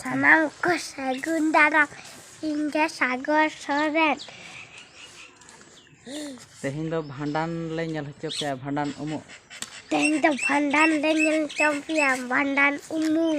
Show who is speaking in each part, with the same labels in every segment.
Speaker 1: ᱥᱟᱱᱟᱢ ᱠᱚ ᱥᱟᱹᱜᱩᱱ ᱫᱟᱨᱟᱢ ᱤᱧ ᱫᱚ ᱥᱟᱜᱚᱨ ᱥᱚᱨᱮᱱ
Speaker 2: ᱛᱮᱦᱮᱧ ᱫᱚ ᱵᱷᱟᱸᱰᱟᱱ ᱞᱮ ᱧᱮᱞ ᱦᱚᱪᱚ ᱯᱮᱭᱟ ᱵᱷᱟᱸᱰᱟᱱ ᱩᱢᱩᱜ ᱛᱮᱦᱮᱧ ᱫᱚ
Speaker 1: ᱵᱷᱟᱸᱰᱟᱱ ᱞᱮ ᱧᱮᱞ ᱦᱚᱪᱚ ᱯᱮᱭᱟ ᱵᱷᱟᱸᱰᱟᱱ ᱩᱢᱩᱜ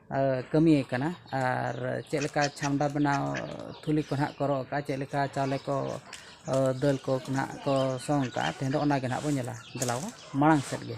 Speaker 2: ᱠᱟᱹᱢᱤᱭᱮ ᱠᱟᱱᱟ ᱟᱨ ᱪᱮᱫ ᱞᱮᱠᱟ ᱪᱷᱟᱢᱰᱟ ᱵᱮᱱᱟᱣ ᱛᱷᱩᱞᱤ ᱠᱚ ᱱᱟᱦᱟᱜ ᱠᱚ ᱨᱚᱜ ᱟᱠᱟᱫᱼᱟ ᱪᱮᱫ ᱞᱮᱠᱟ ᱪᱟᱣᱞᱮ ᱠᱚ ᱫᱟᱹᱞ ᱠᱚ ᱱᱟᱜ ᱠᱚ ᱥᱚᱝ ᱟᱠᱟᱫᱼᱟ ᱛᱮᱦᱮᱧ ᱫᱚ ᱚᱱᱟᱜᱮ ᱱᱟᱜ ᱵᱚᱱ ᱧᱮᱞᱟ ᱫᱮᱞᱟ ᱵᱚᱱ ᱢᱟᱲᱟᱝ ᱥᱮᱫ ᱜᱮ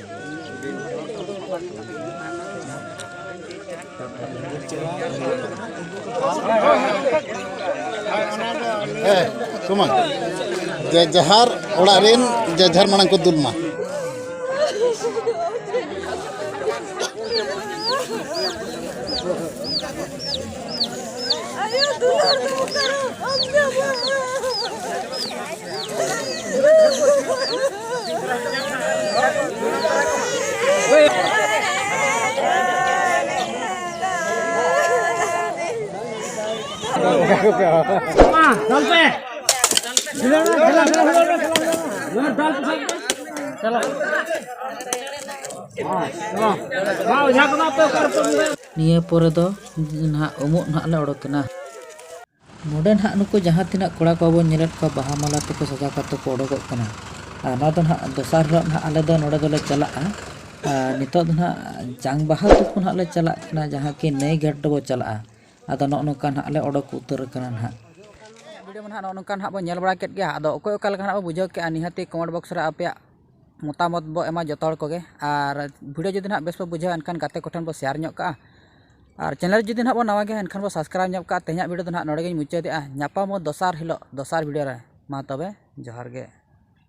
Speaker 3: ᱥᱚᱢᱟᱱ ᱡᱟᱡᱟᱦᱟᱨ ᱚᱲᱟᱜ ᱨᱮᱱ ᱡᱟᱡᱟᱦᱟᱨ ᱢᱟᱲᱟᱝ ᱠᱚ ᱫᱩᱞ ᱢᱟ
Speaker 2: ᱱᱤᱭᱟᱹ ᱯᱚᱨᱮ ᱫᱚ ᱱᱟᱦᱟᱜ ᱩᱢᱩᱜ ᱱᱟᱦᱟᱜ ᱞᱮ ᱚᱰᱚᱠᱮᱱᱟ ᱱᱚᱰᱮ ᱱᱟᱦᱟᱜ ᱱᱩᱠᱩ ᱡᱟᱦᱟᱸ ᱛᱤᱱᱟᱹᱜ ᱠᱚᱲᱟ ᱠᱚ ᱵᱚᱱ ᱧᱮᱞᱮᱫ ᱠᱚᱣᱟ ᱵᱟᱦᱟ ᱢᱟᱞᱟ ᱛᱮᱠᱚ ᱥᱟᱡᱟᱣ ᱠᱟᱛᱮ ᱠᱚ ᱚᱰᱚᱠᱚᱜ ᱠᱟᱱᱟ ᱟᱨ ᱱᱚᱣᱟ ᱫᱚ ᱱᱟᱦᱟᱜ ᱫᱚᱥᱟᱨ ᱦᱤᱞᱳᱜ ᱱᱟᱦᱟᱜ ᱟᱞᱮ ᱫᱚ ᱱᱚᱰᱮ ᱫᱚᱞᱮ ᱪᱟᱞᱟᱜᱼᱟ ᱟᱨ ᱱᱤᱛᱳᱜ ᱫᱚ ᱱᱟᱦᱟᱜ ᱡᱟᱝ ᱵᱟᱦᱟ ᱛᱩᱯᱩ ᱱᱟᱦᱟᱜ ᱞᱮ ᱪᱟᱞᱟᱜ ᱠᱟᱱᱟ ᱡᱟᱦᱟᱸ ᱠᱤ ᱱᱟᱹᱭ ᱜᱟᱰᱟ ᱨᱮᱵᱚᱱ ᱪᱟᱞᱟᱜᱼᱟ ᱟᱫᱚ ᱱᱚᱜᱼᱚ ᱱᱚᱝᱠᱟ ᱱᱟᱦᱟᱜ ᱞᱮ ᱚᱰᱚᱠ ᱩᱛᱟᱹᱨ ᱟᱠᱟᱱᱟ ᱱᱟᱦᱟᱜ ᱵᱷᱤᱰᱤᱭᱳ ᱢᱟ ᱱᱟᱦᱟᱜ ᱱᱚᱜᱼᱚ ᱱᱚᱝᱠᱟ ᱱᱟᱦᱟᱜ ᱵᱚᱱ ᱧᱮᱞ ᱵᱟᱲᱟ ᱠᱮᱫ ᱜᱮᱭᱟ ᱟᱫᱚ ᱚᱠᱚᱭ ᱚᱠᱟ ᱞᱮᱠᱟ ᱱᱟᱦᱟᱜ ᱵᱚᱱ ᱵᱩᱡᱷᱟᱹᱣ ᱠᱮᱫᱼᱟ ᱱᱤᱦᱟᱹᱛᱤ ᱠᱚᱢᱮᱱᱴ ᱵᱚᱠᱥ ᱨᱮ ᱟᱯᱮᱭᱟᱜ ᱢᱚᱛᱟᱢᱚᱛ ᱵᱚᱱ ᱮᱢᱟ ᱡᱚᱛᱚ ᱦᱚᱲ ᱠᱚᱜᱮ ᱟᱨ ᱵᱷᱤᱰᱤᱭᱳ ᱡᱩᱫᱤ ᱱᱟᱦᱟᱜ ᱵᱮᱥ ᱯᱮ ᱵᱩᱡᱷᱟᱹᱣᱟ ᱮᱱᱠᱷᱟᱱ ᱜᱟᱛᱮ ᱠᱚᱴᱷᱮᱱ ᱵᱚᱱ ᱥᱮᱭᱟᱨ ᱧᱚᱜ ᱠᱟᱜᱼᱟ ᱟᱨ ᱪᱮᱱᱮᱞ ᱡᱩᱫᱤ ᱱᱟᱦᱟᱜ ᱵᱚᱱ ᱱᱟᱣᱟ ᱜᱮᱭᱟ ᱮᱱᱠᱷᱟᱱ ᱵᱚᱱ ᱥᱟᱵᱥᱠᱨᱟᱭᱤᱵᱽ ᱧᱚᱜ ᱠᱟᱜᱼᱟ ᱛᱮᱦᱮᱧᱟᱜ ᱵᱷᱤᱰᱤᱭᱳ ᱫᱚ ᱱᱟᱦᱟᱜ ᱱᱚᱰᱮ ᱜᱮᱧ ᱢᱩᱪᱟᱹᱫᱮᱜᱼᱟ ᱧᱟᱯᱟᱢ ᱟᱵᱚᱱ ᱫᱚᱥᱟᱨ ᱦᱤᱞᱳᱜ ᱫᱚᱥᱟᱨ ᱵᱷᱤᱰᱤᱭᱳ ᱨᱮ ᱢᱟ ᱛᱚᱵᱮ ᱡᱚᱦᱟᱨ ᱜᱮ